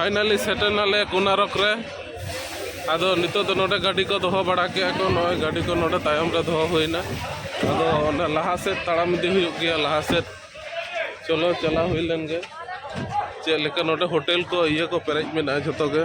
finally ᱥᱮᱴᱮᱨ ᱱᱟᱞᱮ ᱠᱩᱱᱟᱨᱚᱠ ᱨᱮ ᱟᱫᱚ ᱱᱤᱛᱚᱜ ᱫᱚ ᱱᱚᱰᱮ ᱜᱟᱹᱰᱤ ᱠᱚ ᱫᱚᱦᱚ ᱵᱟᱲᱟ ᱠᱮᱜᱼᱟ ᱠᱚ ᱱᱚᱜᱼᱚᱭ ᱜᱟᱹᱰᱤ ᱠᱚ ᱱᱚᱰᱮ ᱛᱟᱭᱚᱢ ᱨᱮ ᱫᱚᱦᱚ ᱦᱩᱭᱱᱟ ᱟᱫᱚ ᱚᱱᱟ ᱞᱟᱦᱟ ᱥᱮᱫ ᱛᱟᱲᱟᱢ ᱤᱫᱤ ᱦᱩᱭᱩᱜ ᱜᱮᱭᱟ ᱞᱟᱦᱟ ᱥᱮᱫ ᱪᱚᱞᱚ ᱪᱟᱞᱟᱣ ᱦᱩᱭ ᱞᱮᱱ ᱜᱮ ᱪᱮᱫ ᱞᱮᱠᱟ ᱱᱚᱰᱮ ᱦᱳᱴᱮᱞ ᱠᱚ ᱤᱭᱟᱹ ᱠᱚ ᱯᱮᱨᱮᱡ ᱢᱮᱱᱟᱜᱼᱟ ᱡᱷᱚᱛᱚ ᱜᱮ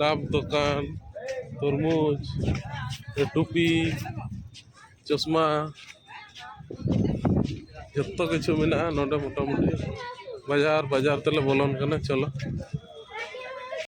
ᱰᱟᱵ ᱫᱚᱠᱟᱱ ᱛᱚᱨᱢᱩᱡᱽ ᱴᱩᱯᱤ ᱪᱚᱥᱢᱟ ᱡᱚᱛᱚ ᱠᱤᱪᱷᱩ ᱢᱮᱱᱟᱜᱼᱟ ᱱᱚᱰᱮ ᱢᱚᱴᱟᱢᱩᱴᱤ ᱵᱟᱡᱟᱨ ᱵᱟᱡᱟᱨ ᱛᱮᱞᱮ ᱵᱚᱞᱚᱱ ᱠᱟᱱᱟ ᱪᱚᱞᱚ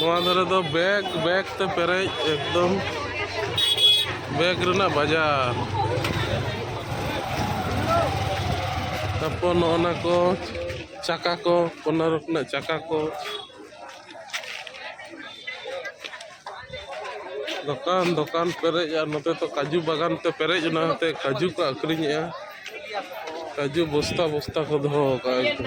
ᱱᱚᱣᱟ ᱫᱷᱟᱨᱮ ᱫᱚ ᱵᱮᱜᱽ ᱵᱮᱜᱽ ᱛᱮ ᱯᱮᱨᱮᱡ ᱮᱠᱫᱚᱢ ᱵᱮᱜᱽ ᱨᱮᱱᱟᱜ ᱵᱟᱡᱟᱨ ᱛᱟᱨᱯᱚᱨ ᱱᱚᱜᱼᱚ ᱱᱟ ᱠᱚ ᱪᱟᱠᱟ ᱠᱚ ᱠᱚᱱᱟ ᱨᱚᱠᱚᱢᱟᱜ ᱪᱟᱠᱟ ᱠᱚ ᱫᱚᱠᱟᱱ ᱫᱚᱠᱟᱱ ᱯᱮᱨᱮᱡ ᱟᱨ ᱱᱚᱛᱮ ᱫᱚ ᱠᱟᱡᱩ ᱵᱟᱜᱟᱱ ᱛᱮ ᱯᱮᱨᱮᱡ ᱚᱱᱟ ᱦᱚᱛᱮ ᱠᱟᱡᱩ ᱠᱚ ᱟᱹᱠᱷᱨᱤᱧᱮᱜᱼᱟ ᱠᱟᱡᱩ ᱵᱚᱥᱛᱟ ᱵᱚᱥᱛᱟ ᱠᱚ ᱫᱚᱦᱚ ᱠᱟᱜᱼᱟ ᱮᱠᱫᱚᱢ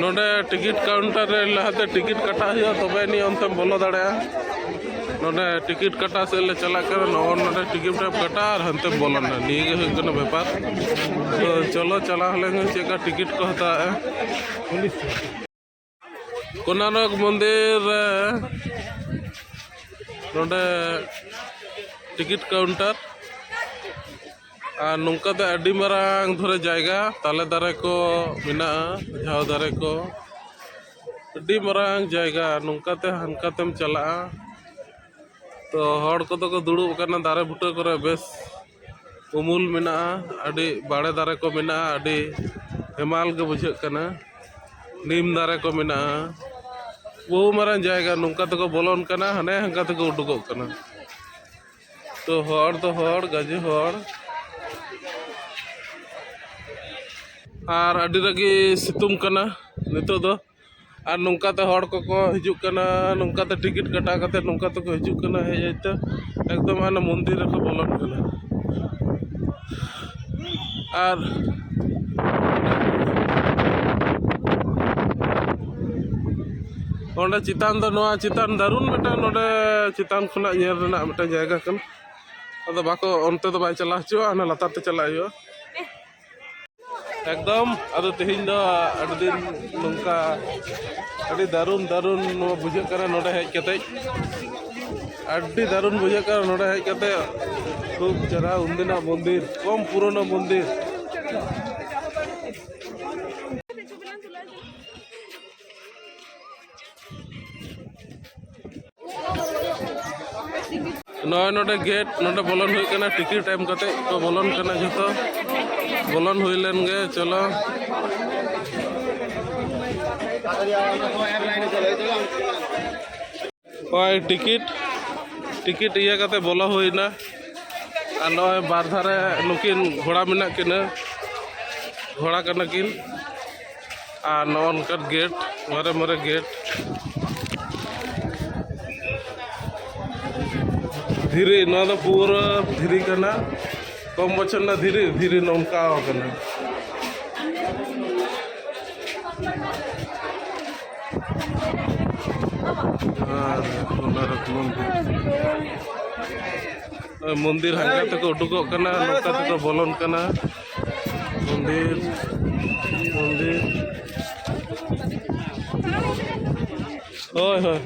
ᱱᱚᱰᱮ ᱴᱤᱠᱤᱴ ᱠᱟᱣᱩᱱᱴᱟᱨ ᱨᱮ ᱞᱟᱦᱟᱛᱮ ᱴᱤᱠᱤᱴ ᱠᱟᱴᱟᱣ ᱦᱩᱭᱩᱜᱼᱟ ᱛᱚᱵᱮ ᱟᱹᱱᱤᱡ ᱚᱱᱛᱮᱢ ᱵᱚᱞᱚ ᱫᱟᱲᱮᱭᱟᱜᱼᱟ ᱱᱚᱰᱮ ᱴᱤᱠᱤᱴ ᱠᱟᱴᱟᱣ ᱥᱮᱫ ᱞᱮ ᱪᱟᱞᱟᱜ ᱠᱟᱱᱟ ᱱᱚᱜᱼᱚ ᱱᱚᱰᱮ ᱴᱤᱠᱤᱴ ᱮᱢ ᱠᱟᱴᱟᱣᱟ ᱟᱨ ᱦᱟᱱᱛᱮᱢ ᱵᱚᱞᱚᱱᱟ ᱱᱤᱭᱟᱹ ᱜᱮ ᱦᱩᱭᱩᱜ ᱠᱟᱱᱟ ᱵᱮᱯᱟᱨ ᱛᱚ ᱪᱚᱞᱚ ᱪᱟᱞᱟᱣ ᱞᱮᱱ ᱪᱮᱫ ᱞᱮᱠᱟ ᱴᱤᱠᱤᱴ ᱠᱚ ᱦᱟᱛᱟᱣᱮᱜᱼᱟ ᱠᱳᱱᱟᱨᱚᱠ ᱢᱚᱱᱫᱤᱨ ᱨᱮ ᱱᱚᱰᱮ ᱴᱤᱠᱤᱴ ᱠᱟᱣᱩᱱᱴᱟᱨ ᱟᱨ ᱱᱚᱝᱠᱟ ᱛᱮ ᱟᱹᱰᱤ ᱢᱟᱨᱟᱝ ᱫᱷᱚᱨᱮ ᱡᱟᱭᱜᱟ ᱛᱟᱞᱮ ᱫᱟᱨᱮ ᱠᱚ ᱢᱮᱱᱟᱜᱼᱟ ᱡᱷᱟᱣ ᱫᱟᱨᱮ ᱠᱚ ᱟᱹᱰᱤ ᱢᱟᱨᱟᱝ ᱡᱟᱭᱜᱟ ᱱᱚᱝᱠᱟ ᱛᱮ ᱦᱟᱱᱠᱟ ᱛᱮᱢ ᱪᱟᱞᱟᱜᱼᱟ ᱛᱚ ᱦᱚᱲ ᱠᱚᱫᱚ ᱠᱚ ᱫᱩᱲᱩᱵ ᱟᱠᱟᱱᱟ ᱫᱟᱨᱮ ᱵᱩᱴᱟᱹ ᱠᱚᱨᱮ ᱵᱮᱥ ᱩᱢᱩᱞ ᱢᱮᱱᱟᱜᱼᱟ ᱟᱹᱰᱤ ᱵᱟᱲᱮ ᱫᱟᱨᱮ ᱠᱚ ᱢᱮᱱᱟᱜᱼᱟ ᱟᱹᱰᱤ ᱦᱮᱢᱟᱞ ᱜᱮ ᱵᱩᱡᱷᱟᱹᱜ ᱠᱟᱱᱟ ᱱᱤᱢ ᱫᱟᱨᱮ ᱠᱚ ᱢᱮᱱᱟᱜᱼᱟ ᱵᱚᱦᱩ ᱢᱟᱨᱟᱝ ᱡᱟᱭᱜᱟ ᱱᱚᱝᱠᱟ ᱛᱮᱠᱚ ᱵᱚᱞᱚᱱ ᱠᱟᱱᱟ ᱦᱟᱱᱮ ᱦᱟᱱᱠᱟ ᱛᱮᱠᱚ ᱩᱰᱩᱠᱚᱜ ᱠᱟᱱᱟ ᱛᱚ ᱦᱚᱲ ᱫᱚ ᱦᱚᱲ ᱜᱟᱡᱮ ᱦᱚᱲ ᱟᱨ ᱟᱹᱰᱤ ᱨᱟᱹᱜᱤ ᱥᱤᱛᱩᱝ ᱠᱟᱱᱟ ᱱᱤᱛᱚᱜ ᱫᱚ ᱟᱨ ᱱᱚᱝᱠᱟᱛᱮ ᱦᱚᱲ ᱠᱚᱠᱚ ᱦᱤᱡᱩᱜ ᱠᱟᱱᱟ ᱱᱚᱝᱠᱟᱛᱮ ᱴᱤᱠᱤᱴ ᱠᱟᱴᱟᱣ ᱠᱟᱛᱮᱫ ᱱᱚᱝᱠᱟ ᱛᱮᱠᱚ ᱦᱤᱡᱩᱜ ᱠᱟᱱᱟ ᱦᱮᱡ ᱦᱮᱡ ᱛᱮ ᱮᱠᱫᱚᱢ ᱦᱟᱱᱮ ᱢᱚᱱᱫᱤᱨ ᱨᱮᱠᱚ ᱵᱚᱞᱚᱱ ᱠᱟᱱᱟ ᱟᱨ ᱚᱸᱰᱮ ᱪᱮᱛᱟᱱ ᱫᱚ ᱱᱚᱣᱟ ᱪᱮᱛᱟᱱ ᱫᱟᱹᱨᱩᱱ ᱢᱤᱫᱴᱟᱝ ᱱᱚᱰᱮ ᱪᱮᱛᱟᱱ ᱠᱷᱚᱱᱟᱜ ᱧᱮᱞ ᱨᱮᱱᱟᱜ ᱢᱤᱫᱴᱟᱝ ᱡᱟᱭᱜᱟ ᱠᱟᱱᱟ ᱟᱫᱚ ᱵᱟᱠᱚ ᱚᱱᱛᱮ ᱫᱚ ᱵᱟᱭ ᱪᱟᱞᱟᱣ ᱦᱚᱪᱚᱣᱟᱜᱼᱟ ᱦᱟᱱᱟ ᱞᱟᱛᱟᱨ ᱛᱮ ᱪᱟᱞᱟᱜ ᱦᱩᱭᱩᱜᱼᱟ ᱮᱠᱫᱚᱢ ᱟᱫᱚ ᱛᱮᱦᱮᱧ ᱫᱚ ᱟᱹᱰᱤ ᱫᱤᱱ ᱱᱚᱝᱠᱟ ᱟᱹᱰᱤ ᱫᱟᱹᱨᱩᱱ ᱫᱟᱹᱨᱩᱱ ᱱᱚᱣᱟ ᱵᱩᱡᱷᱟᱹᱜ ᱠᱟᱱᱟ ᱱᱚᱰᱮ ᱦᱮᱡ ᱠᱟᱛᱮᱫ ᱟᱹᱰᱤ ᱫᱟᱨᱩᱱ ᱵᱩᱡᱷᱟᱹᱜ ᱠᱟᱱᱟ ᱱᱚᱰᱮ ᱦᱮᱡ ᱠᱟᱛᱮ ᱠᱷᱩᱵ ᱪᱮᱦᱨᱟ ᱩᱱᱫᱤᱱᱟᱜ ᱢᱚᱱᱫᱤᱨ ᱠᱚᱢ ᱯᱩᱨᱚᱱᱚ ᱢᱚᱱᱫᱤᱨ ᱱᱚᱜᱼᱚᱭ ᱱᱚᱰᱮ ᱜᱮᱴ ᱱᱚᱰᱮ ᱵᱚᱞᱚᱱ ᱦᱩᱭᱩᱜ ᱠᱟᱱᱟ ᱴᱤᱠᱤᱴ ᱮᱢ ᱠᱟᱛᱮ ᱠᱚ ᱵᱚᱞᱚᱱ ᱠᱟᱱᱟ ᱡᱚᱛᱚ ᱵᱚᱞᱚᱱ ᱦᱩᱭ ᱞᱮᱱ ᱜᱮ ᱪᱚᱞᱚ ᱱᱚᱜᱼᱚᱭ ᱴᱤᱠᱤᱴ ᱴᱤᱠᱤᱴ ᱤᱭᱟᱹ ᱠᱟᱛᱮ ᱵᱚᱞᱚ ᱦᱩᱭᱱᱟ ᱟᱨ ᱱᱚᱜᱼᱚᱭ ᱵᱟᱨ ᱫᱷᱟᱨᱮ ᱱᱩᱠᱤᱱ ᱜᱷᱚᱲᱟ ᱢᱮᱱᱟᱜ ᱠᱤᱱᱟᱹ ᱜᱷᱚᱲᱟ ᱠᱟᱱᱟ ᱠᱤᱱ ᱟᱨ ᱱᱚᱜᱼᱚ ᱱᱚᱝᱠᱟᱱ ᱜᱮᱴ ᱢᱟᱨᱮ ᱢᱟᱨᱮ ᱜᱮᱴ ᱫᱷᱤᱨᱤ ᱱᱚᱣᱟ ᱫᱚ ᱯᱩᱨᱟᱹ ᱫᱷᱤᱨᱤ ᱠᱟᱱᱟ ᱠᱚᱢ ᱵᱚᱪᱷᱚᱨ ᱨᱮᱱᱟᱜ ᱫᱷᱤᱨᱤ ᱫᱷᱤᱨᱤ ᱱᱚᱝᱠᱟ ᱟᱠᱟᱱᱟ ᱢᱚᱱᱫᱤᱨ ᱦᱟᱸᱜᱟ ᱛᱮᱠᱚ ᱩᱰᱩᱠᱚᱜ ᱠᱟᱱᱟ ᱱᱚᱝᱠᱟ ᱛᱮᱠᱚ ᱵᱚᱞᱚᱱ ᱠᱟᱱᱟ ᱢᱚᱱᱫᱤᱨ ᱢᱚᱱᱫᱤᱨ ᱦᱳᱭ ᱦᱳᱭ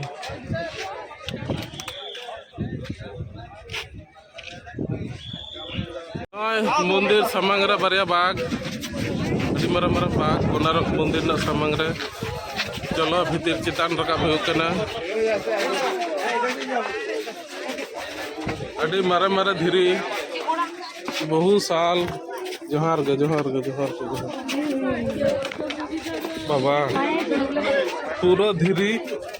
ᱢᱚᱱᱫᱤᱨ ᱥᱟᱢᱟᱝ ᱨᱮ ᱵᱟᱨᱭᱟ ᱵᱟᱜᱽ ᱟᱹᱰᱤ ᱢᱟᱨᱟᱝ ᱢᱟᱨᱟᱝ ᱵᱟᱜᱽ ᱠᱚᱱᱟᱨᱚᱠ ᱢᱚᱱᱫᱤᱨ ᱨᱮᱱᱟᱜ ᱥᱟᱢᱟᱝ ᱨᱮ ᱪᱚᱞᱚ ᱵᱷᱤᱛᱤᱨ ᱪᱮᱛᱟᱱ ᱨᱟᱠᱟᱵ ᱦᱩᱭᱩᱜ ᱠᱟᱱᱟ ᱟᱹᱰᱤ ᱢᱟᱨᱮ ᱢᱟᱨᱮ ᱫᱷᱤᱨᱤ ᱵᱚᱦᱩ ᱥᱟᱞ ᱡᱚᱦᱟᱨ ᱜᱮ ᱡᱚᱦᱟᱨ ᱜᱮ ᱡᱚᱦᱟᱨ ᱜᱮ ᱡᱚᱦᱟᱨ ᱵᱟᱵᱟ ᱯᱩᱨᱟᱹ ᱫᱷᱤᱨᱤ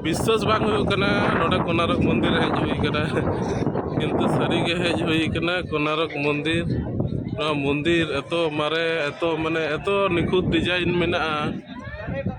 ᱵᱤᱥᱥᱟᱥ ᱵᱟᱝ ᱦᱩᱭᱩᱜ ᱠᱟᱱᱟ ᱱᱚᱰᱮ ᱠᱚᱱᱟᱨᱚᱠ ᱢᱚᱱᱫᱤᱨ ᱦᱮᱡ ᱦᱩᱭ ᱠᱟᱱᱟ ᱠᱤᱱᱛᱩ ᱥᱟᱹᱨᱤᱜᱮ ᱦᱮᱡ ᱦᱩᱭ ᱠᱟᱱᱟ ᱠᱚᱱᱟᱨᱚᱠ ᱢᱚᱱᱫᱤᱨ ᱱᱚᱣᱟ ᱢᱚᱱᱫᱤᱨ ᱮᱛᱚ ᱢᱟᱨᱮ ᱮᱛᱚ ᱢᱟᱱᱮ ᱮᱛᱚ ᱱᱤᱠᱷᱩᱛ ᱰᱤᱡᱟᱭᱤᱱ ᱢᱮᱱᱟᱜᱼᱟ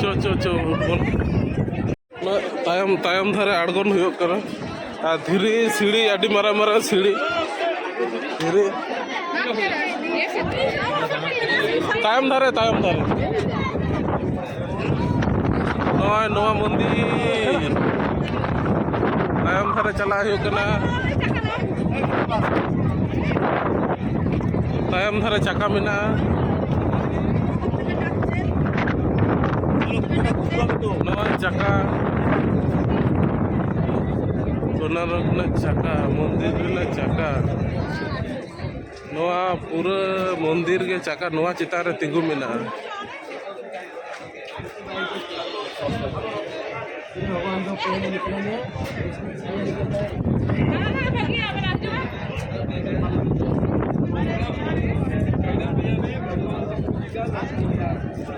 ᱪᱚ ᱪᱚ ᱪᱚ ᱛᱟᱭᱚᱢ ᱛᱟᱭᱚᱢ ᱫᱷᱟᱨᱮ ᱟᱬᱜᱚᱱ ᱦᱩᱭᱩᱜ ᱠᱟᱱᱟ ᱟᱨ ᱫᱷᱤᱨᱤ ᱥᱤᱲᱤ ᱟᱹᱰᱤ ᱢᱟᱨᱟᱝ ᱢᱟᱨᱟᱝ ᱥᱤᱲᱤ ᱫᱷᱤᱨᱤ ᱛᱟᱭᱚᱢ ᱫᱷᱟᱨᱮ ᱛᱟᱭᱚᱢ ᱫᱷᱟᱨᱮ ᱱᱚᱜᱼᱚᱭ ᱱᱚᱣᱟ ᱢᱚᱱᱫᱤᱨ ᱛᱟᱭᱚᱢ ᱫᱷᱟᱨᱮ ᱪᱟᱞᱟᱜ ᱦᱩᱭᱩᱜ ᱠᱟᱱᱟ ᱛᱟᱭᱚᱢ ᱫᱷᱟᱨᱮ ᱪᱟᱠᱟ ᱢᱮᱱᱟᱜᱼᱟ ᱱᱚᱜᱼᱚᱭ ᱪᱟᱠᱟ ᱥᱳᱱᱟᱨᱚᱜᱽ ᱨᱮᱱᱟᱜ ᱪᱟᱠᱟ ᱢᱚᱱᱫᱤᱨ ᱨᱮᱱᱟᱜ ᱪᱟᱠᱟ ᱱᱚᱣᱟ ᱯᱩᱨᱟᱹ ᱢᱚᱱᱫᱤᱨ ᱜᱮ ᱪᱟᱠᱟ ᱱᱚᱣᱟ ᱪᱮᱛᱟᱱ ᱨᱮ ᱛᱤᱸᱜᱩ ᱢᱮᱱᱟᱜᱼᱟ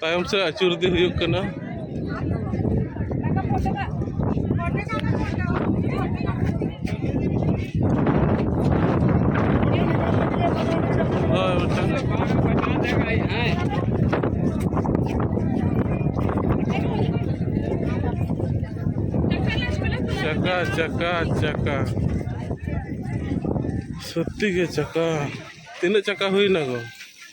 ᱛᱟᱭᱚᱢ ᱥᱮᱫ ᱟᱹᱪᱩᱨ ᱤᱫᱤ ᱦᱩᱭᱩᱜ ᱠᱟᱱᱟ ᱪᱟᱠᱟ ᱪᱟᱠᱟ ᱪᱟᱠᱟ ᱥᱚᱛᱛᱤ ᱜᱮ ᱪᱟᱠᱟ ᱛᱤᱱᱟᱹᱜ ᱪᱟᱠᱟ ᱦᱩᱭᱱᱟ ᱜᱚ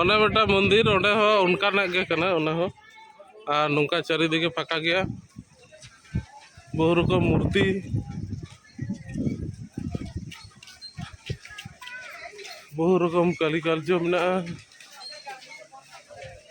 ᱚᱱᱮ ᱢᱤᱫᱴᱟᱝ ᱢᱚᱱᱫᱤᱨ ᱚᱸᱰᱮ ᱦᱚᱸ ᱚᱱᱠᱟᱱᱟᱜ ᱜᱮ ᱠᱟᱱᱟ ᱚᱱᱟ ᱦᱚᱸ ᱟᱨ ᱱᱚᱝᱠᱟ ᱪᱟᱹᱨᱤᱫᱤᱜᱮ ᱯᱷᱟᱸᱠᱟ ᱜᱮᱭᱟ ᱵᱚᱦᱩ ᱨᱚᱠᱚᱢ ᱢᱩᱨᱛᱤ ᱵᱚᱦᱩ ᱨᱚᱠᱚᱢ ᱠᱟᱹᱨᱤᱠᱟᱨᱡᱚ ᱢᱮᱱᱟᱜᱼᱟ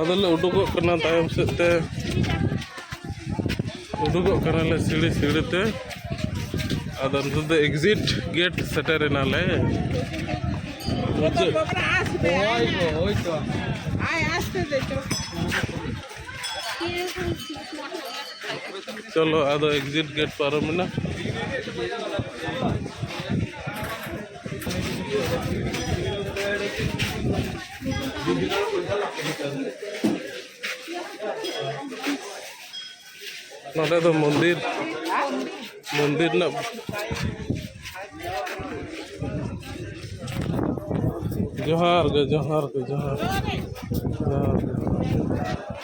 ᱟᱫᱚᱞᱮ ᱩᱰᱩᱠᱚᱜ ᱠᱟᱱᱟ ᱛᱟᱭᱚᱢ ᱥᱮᱫ ᱛᱮ ᱩᱰᱩᱠᱚᱜ ᱠᱟᱱᱟᱞᱮ ᱥᱤᱲᱤ ᱥᱤᱲᱤ ᱛᱮ ᱟᱫᱚ ᱱᱤᱛᱚᱜ ᱫᱚ ᱮᱠᱡᱤᱴ ᱜᱮᱴ ᱥᱮᱴᱮᱨ ᱮᱱᱟᱞᱮ ᱢᱩᱪᱟᱹᱫ ᱪᱚᱞᱚ ᱟᱫᱚ ᱮᱠᱡᱤᱴ ᱜᱮᱴ ᱯᱟᱨᱚᱢᱮᱱᱟ ᱱᱚᱰᱮ ᱫᱚ ᱢᱚᱱᱫᱤᱨ ᱢᱚᱱᱫᱤᱨ ᱨᱮᱱᱟᱜ ᱡᱚᱦᱟᱨ ᱜᱮ ᱡᱚᱦᱟᱨ ᱜᱮ ᱡᱚᱦᱟᱨ ᱜᱮ ᱡᱚᱦᱟᱨ ᱜᱮ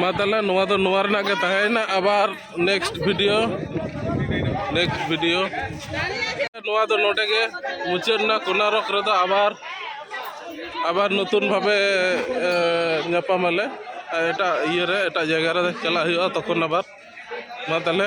ᱢᱟ ᱛᱟᱦᱚᱞᱮ ᱱᱚᱣᱟ ᱫᱚ ᱱᱚᱣᱟ ᱨᱮᱱᱟᱜ ᱜᱮ ᱛᱟᱦᱮᱸᱭᱮᱱᱟ ᱟᱵᱟᱨ ᱱᱮᱠᱥᱴ ᱵᱷᱤᱰᱤᱭᱳ ᱱᱮᱠᱥᱴ ᱵᱷᱤᱰᱤᱭᱳ ᱱᱚᱣᱟ ᱫᱚ ᱱᱚᱰᱮ ᱜᱮ ᱢᱩᱪᱟᱹᱫ ᱮᱱᱟ ᱠᱳᱱᱟᱨᱚᱠ ᱨᱮᱫᱚ ᱟᱵᱟᱨ ᱟᱵᱟᱨ ᱱᱚᱛᱩᱱ ᱵᱷᱟᱵᱮ ᱧᱟᱯᱟᱢ ᱟᱞᱮ ᱮᱴᱟᱜ ᱤᱭᱟᱹ ᱨᱮ ᱮᱴᱟᱜ ᱡᱟᱭᱜᱟ ᱨᱮ ᱪᱟᱞᱟᱜ ᱦᱩᱭᱩᱜᱼᱟ ᱛᱚᱠᱷᱚᱱ ᱟᱵᱟᱨ ᱢᱟ ᱛᱟᱦᱚᱞᱮ